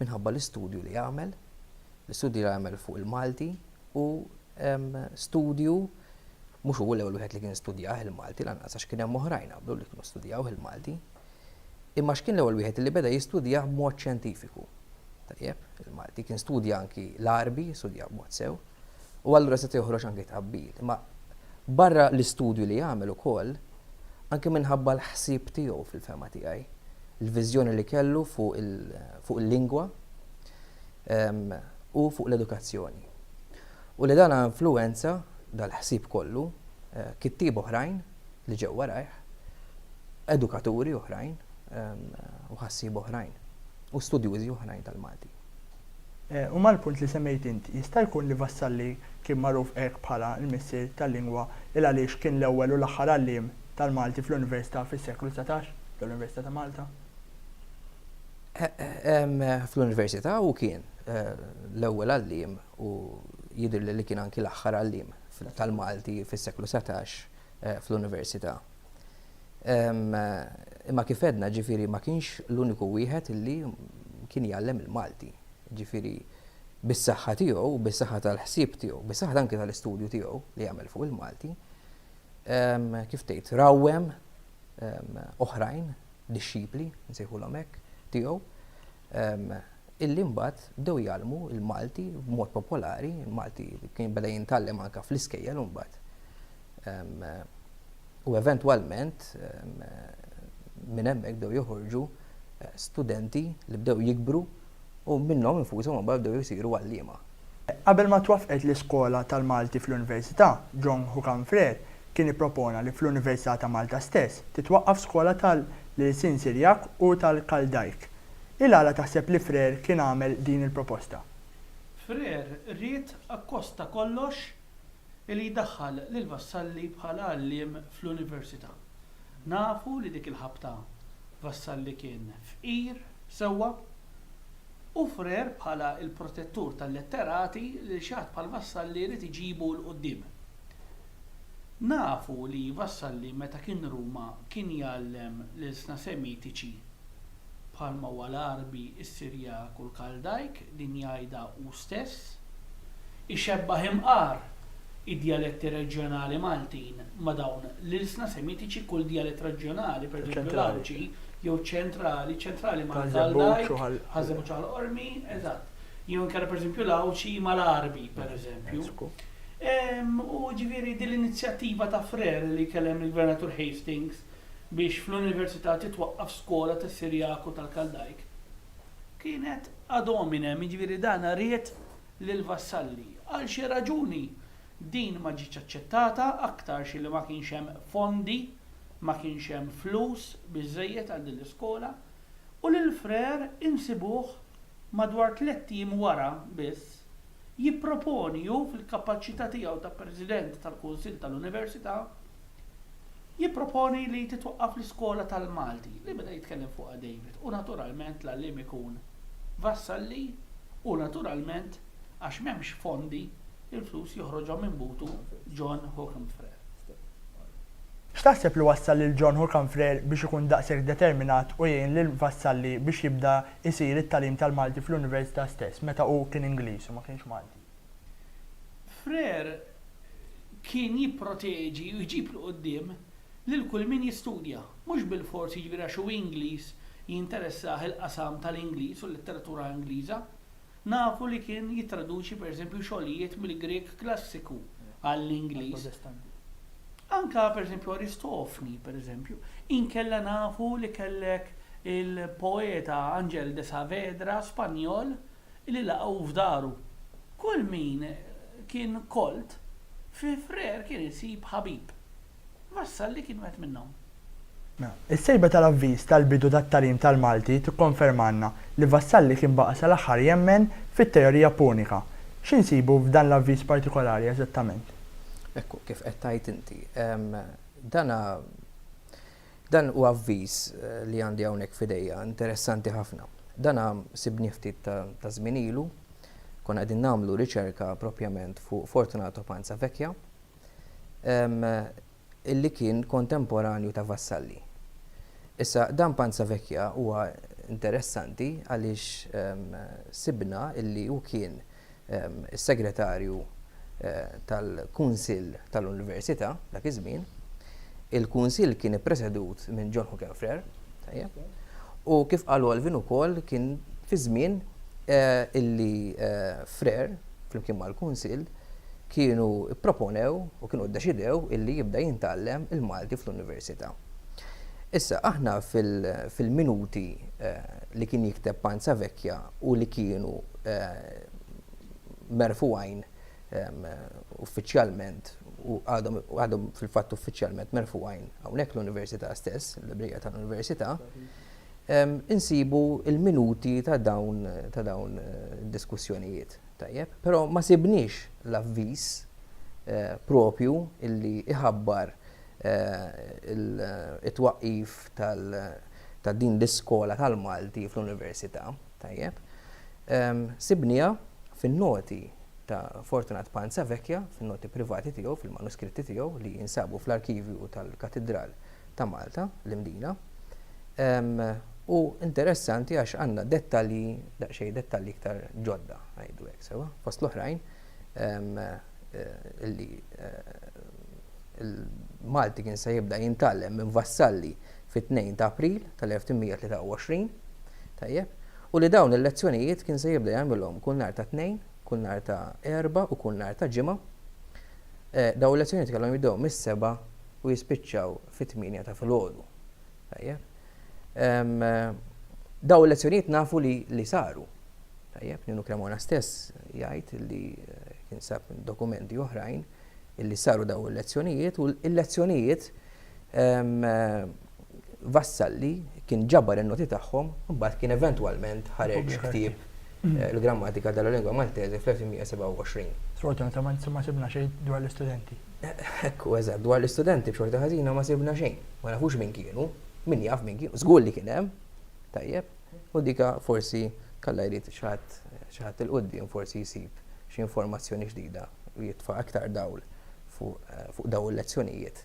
minħabba l-istudju li għamel, l-istudju li għamel fuq il-Malti u studju mhux hu l-ewwel wieħed li kien studjah il-Malti lanqas għax kien hemm oħrajn qablu li kienu studjaw il-Malti. Imma x'kien l-ewwel wieħed li beda jistudjah b'mod xjentifiku. Tajjeb, il-Malti kien studja anki l-Arbi, studja b'mod sew, u allura se joħroġ anki tqabbil. Imma barra l-istudju li għamel ukoll, anki minħabba l-ħsieb tiegħu fil-fehma tiegħi, il-viżjoni li kellu fuq il-lingwa u fuq l-edukazzjoni. U li dan influwenza, dal-ħsieb kollu, kittieb oħrajn li ġew warajh, edukaturi oħrajn u ħassieba oħrajn u studjużi oħrajn tal-Malti. U mal-punt li semmejt int, jista' jkun li Vassalli kien magħruf hekk bħala l-missier tal-lingwa il-għaliex kien l-ewwel u l-aħħar għalliem tal-Malti fl-Università fis-seklu dsatax, l-Università ta' Malta? Fl-Università hu kien l-ewwel għalliem u jidhirli li kien anki l-aħħar għalliem tal-Malti fis-seklu dsatax fl-Università. Imma kif għedna, ġifieri ma kienx l-uniku wieħed li kien jgħallem il-Malti. Ġifieri bis-saħħa tiegħu, bis-saħħa tal-ħsieb tiegħu, bis-saħħa anke tal-istudju tiegħu li għamel fuq il-Malti, kif tgħid, rawwem oħrajn, dixxipli, nsejħulhom hekk, tiegħu. illi mbagħad bdew jgħallmu l-Malti b'mod popolari, il-Malti kien beda jintgħallem anke fl-iskejjel imbagħad. U eventwalment minn hemmhekk bdew joħorġu studenti li bdew jikbru u minnhom infushom imbagħad bdew isiru għalliema. Qabel ma twaffqet l-Iskola tal-Malti fl-Università, John Hucam Frere kien ippropona li fl-Università ta' Malta stess titwaqqaf skola tal-Ilsien Sirjak u tal-Kaldajk. Il għala taħseb li Frere kien għamel din il-proposta? Frere ried akkost ta' kollox li jdaħħal lil Vassalli bħala għalliem fl-Università. Nafu li dik il-ħabta Vassalli kien fqir sewwa u frer bħala l-protettur tal-letterati lil xi ħadd bħal Vassalli jrid iġibu 'l quddiem. Nafu li Vassalli meta kien Ruma kien jgħallem l-ilsna Semitiċi bħalma huwa l-Għarbi, is-Sirjak u l-Kaldajk, din jgħidha hu stess. Ixebbah imqar id-djaletti reġjonali Maltin ma' dawn l-ilsna Semitiċi, kull djalett reġjonali, pereżempju l-Għawdxi, jew ċentrali, ċentrali mal-Għaldajk, Ħaż-Żebbuġ Ħal-Qormi, eżatt, jew inkella pereżempju l-Għawdxi mal-Għarbi, pereżempju. U jiġifieri din l-inizjattiva ta' Frere li jkellem lill-Gvernatur Hastings biex fl-Università titwaqqaf skola tas-Sirjak u tal-Kaldajk kienet ad hominem, jiġifieri dan ried lill-vassalli. Għal xi raġuni din ma ġietx aċċettata aktarx li ma kienx hemm fondi, ma kienx hemm flus biżżejjed għal din l-iskola, u lil Frère insibuh madwar tlett ijiem wara biss jipproponi hu fil-kapaċità tiegħu ta' President tal-Kunsill tal-Università, Jipproponi li titwaqqaf l-iskola tal-Malti li beda jitkellem fuqha David u naturalment l-għalliem ikun Vassalli u naturalment għax m'hemmx fondi l-flus joħroġhom minn butu John Hookham Frere. X'taħseb li wassal lil John Hookham Frere biex ikun daqshekk determinat u jgħin lil Vassalli biex jibda jsir it-tagħlim tal-Malti fl-Università stess meta hu kien Ingliż u ma kienx Malti? Freire kien jipproteġi u jġib 'l quddiem lil kull min jistudja, mhux bilfors jiġifieri għax hu Ingliż jinteressah il-qasam tal-Ingliż u l-letteratura Ingliża. Nafu li kien jittraduċi pereżempju xogħlijiet mill-Grieg Klassiku għall-Ingliż. Anke pereżempju Aristofni, pereżempju. Inkella nafu li kellek il-poeta Angel de Saavedra, Spanjol, li laqgħu f'daru. Kull min kien kolt fi frer kien isib ħabib. Vassalli kien wieħed minnhom. Is-sejba tal-avviż tal-bidu tat-tagħlim tal-Malti tikkonfermalna li Vassalli kien baqa' sal-aħħar jemmen fit-teorija punika. Xi nsibu f'dan l-avviż partikolari eżattament? Ekku, kif qed tgħid inti. Dan Dan hu avviż li għandi hawnhekk f'idejja, interessanti ħafna. Dana sibnieh ftit ta' żmien ilu, konna qegħdin nagħmlu riċerka proprjament fuq Fortunato Panza Vecchia, li kien kontemporanju ta' Vassalli. Issa, dan Panza Vecchia huwa interessanti għaliex sibna li hu kien is-Segretarju tal-Kunsill tal-Università dak iż-żmien. Il-Kunsill kien ippresedut minn John Hook and Frere, tajjeb, u kif qal Alvin ukoll kien fi żmien illi Frere flimkien mal-Kunsill kienu pproponew u kienu ddeċidew illi jibda jintgħallem il-Malti fl-Università. Issa aħna fil-minuti li kien jikteb Panzavecchia, u li kienu merfugħin uffiċjalment u għadhom fil-fatt uffiċjalment merfugħin hawnhekk l-Università stess, il-librija tal-Università, insibu l-minuti ta' dawn ta' dawn id-diskussjonijiet. Tajjeb? Però ma sibniex l-avviż proprju li jħabbar it-twaqqif ta' din l-iskola tal-Malti fl-Università, tajjeb, sibniha fin-noti ta' Fortunat Panzavecchia, fin-noti privati tiegħu, fil-manuskritti tiegħu li jinsabu fl-arkivju tal-Katidral ta' Malta, l-Imdina, u interessanti għax għandna dettalji, daqsxejn dettalji iktar ġodda, ngħidu hekk, sewwa, fost l-oħrajn, illi l-Malti kien se jibda jintgħallem minn Vassalli fit-2 ta' April tal-1823, tajjeb, u li dawn il-lezzjonijiet kien se jibda jagħmilhom kull nhar ta' Tnejn, kull nhar ta' Erbgħa u kull nhar ta' Ġimgħa. Dawn il-lezzjonijiet kellhom jibdew mis-sebgħa u jispiċċaw fit-tmienja ta' filgħodu. Tajjeb. Daw il-lezzjonijiet nafu li li saru. Tajjeb, Ninu Cremona stess jgħid li eh, kien sab dokumenti oħrajn illi saru daw il-lezzjonijiet u l-lezzjonijiet eh, Vassalli kien ġabar il-noti tagħhom, mbagħad kien eventwalment ħareġ ktieb l-grammatika della lingua maltese fl-1927. Sfortunatament ma sibna xejn dwar l-istudenti. Hekk hu, eżatt. Dwar l-istudenti b'xorta ħażina ma sibna xejn. Ma nafux min kienu. Min jaf min kienu. Żgur li kien hemm. Tajjeb. U dik forsi Alla jrid xi ħadd xi ħadd 'il quddiem forsi jsib xi informazzjoni ġdida u jitfa' aktar dawl fuq dawn il-lezzjonijiet.